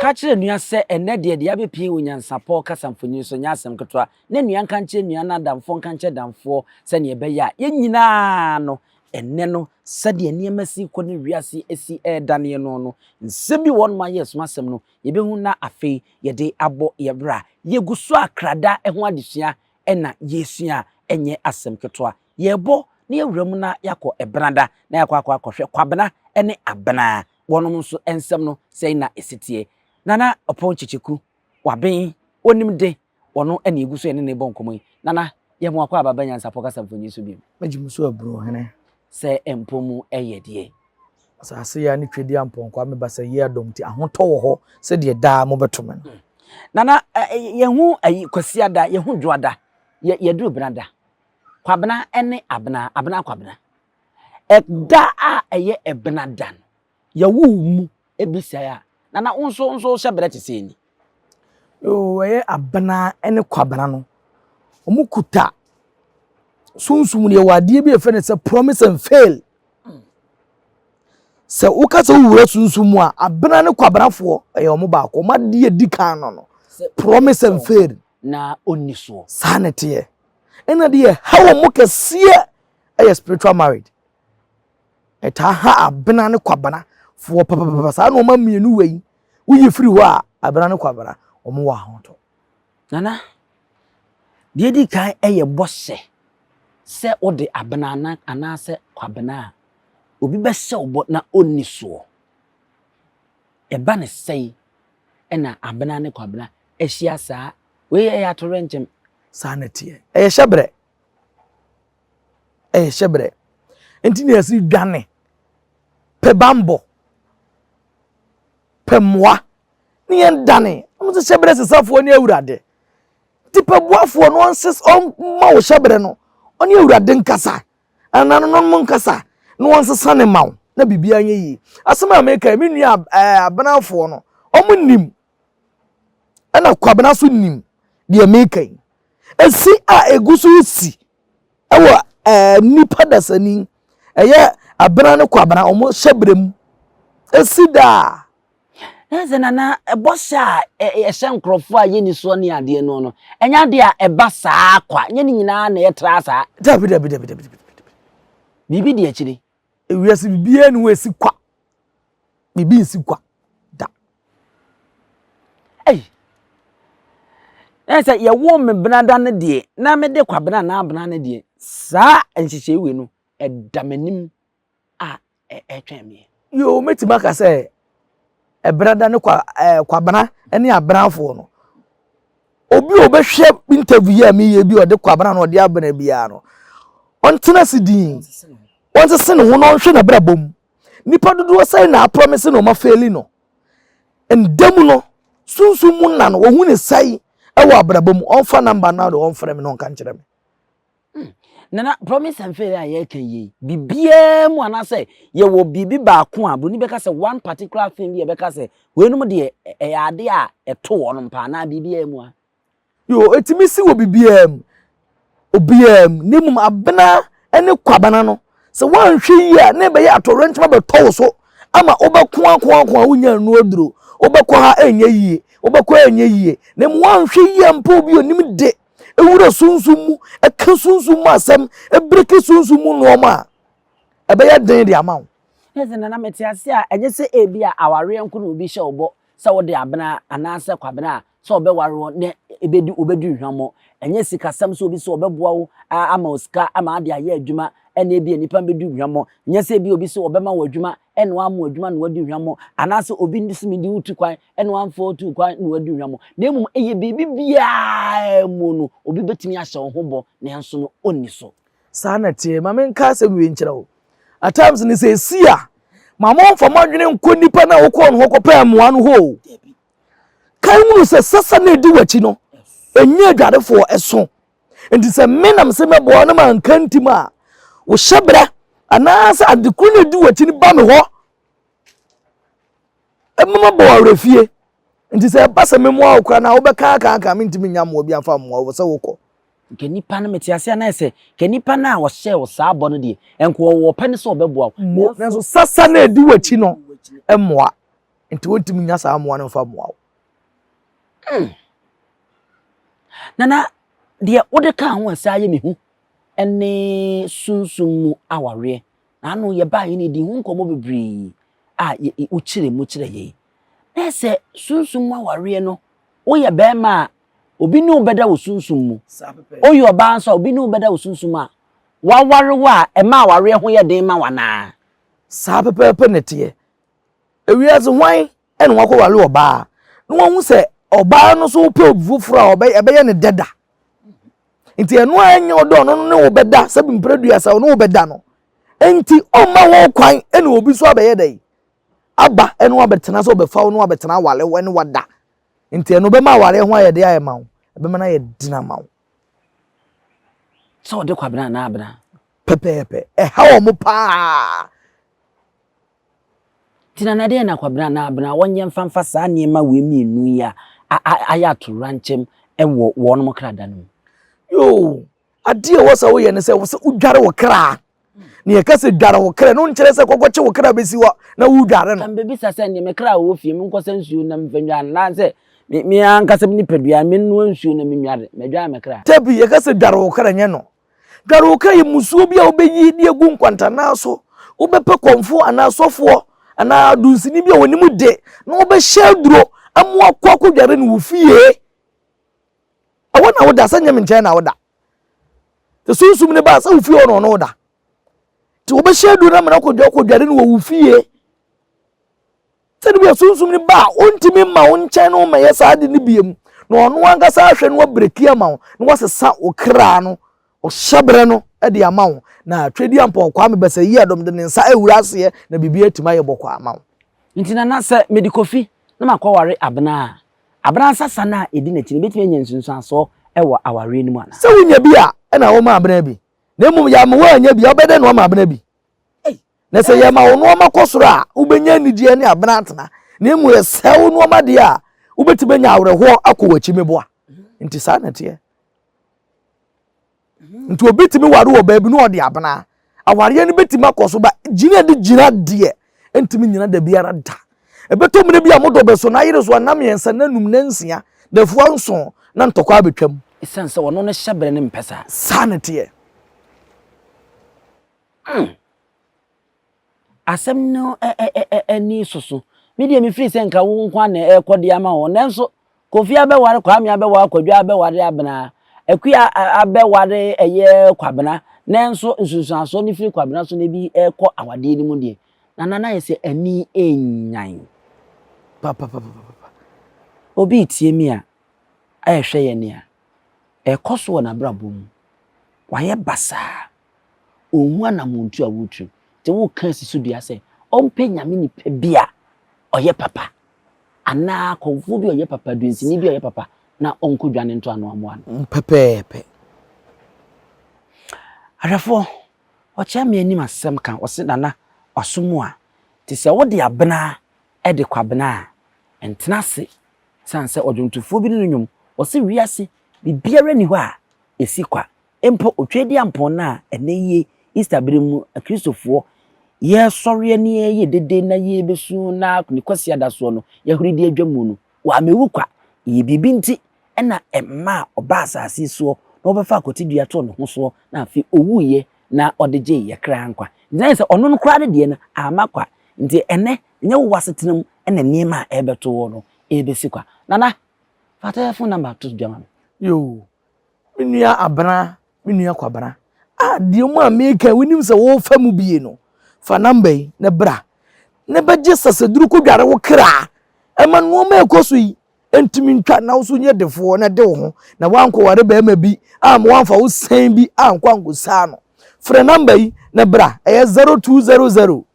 Ka kyerɛ nua sɛ ɛnnɛ deɛ deɛ abɛpie wɔ nyansapɔ kasa mfonini so nyɛ asɛm ketewa. Na nua nka nkyerɛ nua na adamfoɔ nka nkyerɛ damfoɔ sɛdeɛ ɛbɛyɛ a yɛn nyinaa no ɛnnɛ no sɛdeɛ nneɛma si rekɔ ne wiase si redaneɛ noɔ no, nsɛm bi wɔ hɔnom a yes, m'asɛm no, yɛbɛhu na afei yɛde abɔ yɛn bra. Yɛgu so a krada ho adesua na yɛresua a, ɛnyɛ asɛm ketewa. Yɛrebɔ na yɛawura mu na yɛakɔ Benada na yɛakɔ akɔ akɔhwɛ Kwabena ne Abena. Wɔnom nso nsɛm no, sɛn na ɛsi teɛ? Nana Ɔpɔn Kyekyeku, Waben, Onimden. Ɔno na yɛgu so yɛne no rebɔ nkɔmmɔ yi. Nana, yɛ mmoa kɔ a bɛba Nyansapɔ Kasamfonin so bio. Mɛgye mo so aburo hene. Sɛ mpo mu yɛ deɛ. Asase yea ne Twedeɛ Ampɔnkɔ a me ba sɛ yea dɔm nti ahotɔ wɔ hɔ sɛ deɛ daa mobɛto me no. Nana, yɛhu ayi Kwasiada, yɛhu Dwoada, yɛ yɛduru Benada. Kwabena ne Abena, Abena Kwabena. Ɛda a ɛyɛ Benada no. Yɛwo wo mu bi sɛɛ a, na na wo nso wo nso wohyɛ brɛ te sɛ ni. Yoo, ɛyɛ Abena ne Kwabena no. Wɔn kuta sunsum no yɛwɔ adeɛ bi a yɛfrɛ no sɛ promise and fail. Sɛ woka sɛ wowura sunsum mu a, Abena ne Kwabenafoɔ ɛyɛ wɔn baako. Wɔn adeɛ a ɛdi kan no no, promise and fail. Na ɔnni soɔ. Saa na ɛteɛ. Ɛna deɛ ɛha wɔn kɛseɛ ɛyɛ spiritual marriage. ɛtaa ha abena ne kwabena foɔ papapapa saa nneɛma mmienu wei woyi firi hɔ a abena ne kwabena wɔn wɔ ahotɔ. nana deɛ edi kan yɛ bɔhyɛ sɛ wode abena ana anaasɛ kwabena a obi bɛhyɛ wo bɔ na onni soɔ ɛba ne sɛe ɛna abena ne kwabena ahyia saa wei yɛ atorenkyem. saa na ɛteɛ ɛyɛ hyɛ brɛ. ɛyɛ hyɛbrɛ nti na yɛsi dwane pɛ bambɔ pɛ mmoa ne yɛn dane ɔno sɛ hyɛbrɛ sesafoɔ ne awurade nti pɛ boafoɔ no ɔnses ɔma wo hyɛbrɛ no ɔne awurade nkasa anananom mo nkasa na ɔnsesa ne ma wo na biribiara nyɛ yie asɛm a meka yi me nua ɛɛ abenafoɔ no ɔmo nim ɛna kwabena so nim deɛ meka yi esi a egu so si ɛwɔ ɛɛ eh, nipa dasani ɛyɛ abena ne kwabena wɔn hyɛ bere mu esi daa. ɛsɛ nana ɛbɔ hyɛ a ɛhyɛ nkurɔfoɔ a yɛni soɔ ne adeɛ no no ɛnyɛ adeɛ a ɛba saa kwa nyɛ ne nyinaa na ɛtra saa. dabi dabi dabi dabi dabi biribi di akyire. ewiase biribiara ni hɔ esi kwa biribi nsi kwa da ei na sɛ yɛwoo me benada no deɛ na mede kwabena anaa abena no deɛ saa nhyehyɛe wei no ɛda m'anim a ɛtwɛn me yoo mɛtumi aka sɛ Ɛberɛda ne kwa ɛɛ Kwabena ne Abenafoɔ no. Obi a ɔbɛhwɛ interview yi a meyɛ bi a ɔde Kwabena na ɔde Abena biara no, ɔntena ase din. Ɔnsese ne ho na ɔnhwɛ n'abrabɔ mu. Nipa dodoɔ sɛn na aprɔmese na ɔma fɛli no? Nda mu no, sunsum mu nna no, wɔhu ne sɛn wɔ abrabɔ mu? Ɔmfa number no na ɔmfrɛ me na ɔnka nkyerɛ me. Hmm. Nana, promise and fail a yɛreka yie, biribiara mu anaasɛ yɛwɔ biribi baako a buroni bɛka sɛ one particular thing bi a ɛbɛka sɛ weinom deɛ ɛyɛ adeɛ a ɛto wɔnom paa anaa biribiara mu a. Yo, ɛtumi si wɔ biribiara mu, obiara mu, na mmom abena ne kwabena no, sɛ woanhwɛ yie a na ɛbɛyɛ atɔwrɛnkyɛm abɛtɔ wo so ama wobɛko ako ako a wonya nnu aduro, wobɛkɔ ha ɛnyɛ yie, wobɛkɔ ɛnyɛ yie, na mmom woanhwɛ yie a mpo obi onim de ɛwura sunsum mu ɛka sunsum mu asɛm ɛbreki sunsum mu nnoɔma a ɛbɛyɛ den de ama wo ɛsɛ na na mete ase a ɛnyɛ sɛ ebi a awareɛ nko na obi hyɛ wo bɔ sɛ wode abena anaasɛ kwabena a sɛ ɔbɛware wo ne ɛbɛdi wobɛdi nhwammɔ ɛnyɛ sikasɛm sɛ obi sɛ ɔbɛboa wo ama wo sika ama ade ayɛ adwuma ɛna ebi nnipa bɛdi nhwammɔ nyɛ sɛ ebi obi sɛ ɔbɛma wo adwuma ɛna wammo adwuma na wadi hwammɔ, anaasɛ obi nso medi wo tu kwan ɛna wamfa wo tu kwan na wadi hwammɔ, na mmom ɛyɛ biribi biara mu no obi bɛtumi ahyɛ wo ho bɔ nanso no ɔnni so. Saa na ɛteɛ. Ma menka asɛm wei nkyerɛ wo. At times no sɛ ɛsi a, ma momfa mo adwene nkɔ nnipa no a wokɔɔ no hɔ kɔpɛɛ mmoa no hɔ o. Kan hunu sɛ sasa no ɛdi w'akyi no, ɛnyɛ adwarefoɔ ɛso. nti sɛ me nam sɛ mɛboa wo na manka ntim a wo hyɛbrɛ anaasɛ ade koro na ɛdi w'akyi no ba me hɔ ɛma mabɔ wo awerɛfie nti sɛ ɛba sɛ memoa wo koraa no a wobɛkaakaaka mentumi nya mmoa bi amfa mmoa wo sɛ wokɔ nka nipa no mete ase anaa sɛ ka nipa no a wɔhyɛɛ wo saa bɔ no deɛ ɛnka ɔwɔ pɛ no sɛ ɔbɛboa wo nanso sasa na ɛdi w'akyi no mmoa nti wontumi nya saa mmoa no mfa mmoa wo Hmm. Nana, deɛ wode kaa ho a ɛsɛ ayɛ me hu ne sunsum mu awareɛ. Na ano yɛbaa yɛn di ho nkɔmmɔ bebree a wokyerɛ mu kyerɛ yɛn. Na sɛ sunsum mu awareɛ no, woyɛ bɛrima a, obi ne wo bɛda wɔ sunsum mu. Woyɛ ɔbaa nso a, obi ne wo bɛda wɔ sunsum mu a, waware wo a, ɛma awareɛ ho yɛ den ma wo anaa? Saa pɛpɛɛpɛ na ɛteɛ. Ewiase hwan ɛna wakɔware ɔbaa na wahu sɛ ɔbaa no so wopɛ obi foforɔ a ɛbɛyɛ ne dɛ da nti ɛno a ɛnyɛ ɔdɔ ɔno no ne wo bɛda sɛ mprɛ duasa ɔne wo bɛda no nti ɔmma ho kwan ɛna obi so abɛyɛ dɛ aba ɛne wabɛtena sɛ ɔbɛfa wo ne wabɛtena awale wo ɛne wada nti ɛno bɛma awareɛ ho ayɛ de ayɛ ma wo ɛbɛma no ayɛ dina ma wo sɛ ɔde kwabena anaa abena pɛpɛɛpɛ ɛha wɔn paa Nti na deɛ na Kwabena na Abena wɔnyɛ mfa mfa saa nneɛma wei mmienu yi a ayɛ atoyerɛnkyɛm wɔ wɔnom kra da no mu? Yoo, adeɛ ɛwɔ sɛ woyɛ ne sɛ ɛwɔ sɛ wodware wo kra. Ne yɛka sɛ dware wo kra no nkyerɛ sɛ kɔkɔkye wo kra bɛsi hɔ na wodware no. Mbɛbisa sɛ neɛ me kra a ɛwɔ fie mu nkɔsa nsuo na mfa nnware no anaasɛ me ankasa me nipadua menoa nsuo na menware madware me kra? Dabi, yɛka sɛ dware wo kra nyɛ no Dware wo ka yi musuo bi a wobɛyi de agu nkwantanaa so. Wobɛpɛ kɔmfoɔ anaa sɔfoɔ anaa dunsini bi a wɔnim de na wɔbɛhyɛ aduro ama wakɔ akɔdware no wo fie. Ɛwɔ na woda sɛ nyɛ me nkyɛn na woda. Te sunsum ne ba sɛ wo fie hɔ na ɔno woda. Te wobɛhyɛ aduro no ama no akɔdware no wɔ wo fie. Sɛnea Sunsum no ba a ontumi mma wo nkyɛn no mmɛyɛ saa ade no bio mu, na ɔno ankasa ahwɛ na wabreki ama wo, na wasesa wo kra no, ɔhyɛberɛ no, de ama wo, na Tweduampɔw Kwame Basayie-Adom de ne nsa awura aseɛ na biribiara atumi ayɛ bɔkɔɔ ama wo. Nti Nana, sɛ mede kɔ fi na makɔware Abena a, Abena nsasa no a ɛdi n'akyi no, mɛtumi anya nsunsuansoɔ wɔ awareɛ no mu anaa? Sɛ wonya bi a, ɛna woma Abena bi, na mmom yɛ ama woannya bi a, wobɛdɛn na woama Abena bi? Na sɛ yɛma wo nnoɔma kɔ soro a, wobɛnya anigyeɛ ne abena atena, na mmom yɛsɛe wo nnoɔma deɛ a, wobɛtumi anya awerɛhoɔ akɔ w'akyi meboa. Nti saa na ɛteɛ. Nti obi tumi ware wɔ baabi na ɔde abena. Awareɛ no bɛtumi akɔ so ba gyina de gyina deɛ ɛntumi nyina da biara da. Ɛbɛtɔ mmerɛ bi a mo dɔ bɛso na ayere so a nna mmiɛnsa, nna num, nna nsia, dafua nson na ntɔkwa abɛtwam. Ɛsiane sɛ ɔno ne hyɛberɛ no mpɛ saa. Saa na ɛteɛ. Hmm. Asɛm no ani soso. Me deɛ mefiri sɛ nka wo nko na ɛrekɔ de ama wɔn. Nanso Kofi abɛware Kwame abɛware Kwadwo abɛware Abena. Akua abɛware ɛyɛ Kwabena. Nanso nsunsuansoɔ no firi Kwabena so na ebi rekɔ awadeɛ no mu deɛ. Nana na ayɛ sɛ ani renyan. Papapapapa. Obi retie me a ɛrehwɛ yɛn nea ɛrekɔ so wɔ n'abrabɔ mu. Wayɛ basaa. Onhu anamɔntu a woretu. Nti woka asi so dua sɛ ɔmpɛ Nyame nipa bi a ɔyɛ papa anaa kɔmfoɔ bi a ɔyɛ papa, duansini bi a ɔyɛ papa na ɔnkɔ dwa no ntɔ ano ammoa no. Mu pɛpɛɛpɛ. Ahwɛfoɔ, ɔkyea me anim asɛm ka, ɔse, Nana, w'aso mu a, te sɛ wode abena de kɔ abena a, ntena ase, ɛsiane sɛ ɔdwontofoɔ bi ne no nnwom, ɔse, Wiase, biribiara nni hɔ a ɛsi kwa, Mpo Otwadiampɔn no a ɛnnɛ yi Easter bere mu Akristofoɔ yɛresɔreɛ ne yɛreyɛ dede na yɛrebɛsu na ne Kwasiada soɔ no yɛhore de adwa mu no, wammewu kwa. Ɛyɛ biribi nti na ɛmaa ɔbaa asase yi soɔ na wɔbɛfaa akwatidua too ne ho soɔ na afei ɔwuiɛ na ɔde gyee yɛn kra nkwa. Nti na ayɛ sɛ ɔno no koraa ne deɛ no amma kwa. Nti ɛnnɛ ɛnyɛ wo w'asetena mu na nneɛma a ɛrebɛto woɔ no ɛrebɛsi kwa. Nana, fa telephone number to dwa ma me. Yoo, Me nua Abena, me nua Kwabena, a deɛ mu a meka yi wonim sɛ wofa mu bie no, fa namba yi na bra na bɛgye sasaduru kɔdware wo kra ɛma nnoɔma ɛkɔ so yi ɛntumi ntwa na woso nyɛ defoɔ na de wo ho na woankɔware bɛrima bi a ma woamfa wo sɛn bi ankɔ ankɔsaa no. Frɛ namba yi na bra ɛyɛ 0200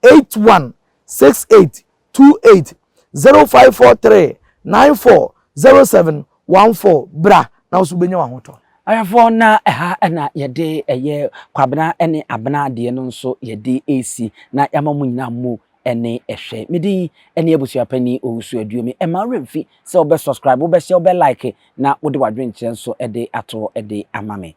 81 68 two eight zero five four three nine four zero seven one four bra na nso bɛnya w'ahotɔ. Ayɛfoɔ na ɛha na yɛde ɛyɛ kwabena ne abena deɛ no nso yɛde ɛsi na yɛama mu nyinaa mu ɛne ɛhwɛ. Me din ɛne abusuapani Owusu Aduomi. Ɛma wo werɛ mfi sɛ wobɛ subscribe, wobɛ share, wobɛ like na wode w'adwenkyerɛ nso ɛde ato hɔ ɛde ama me.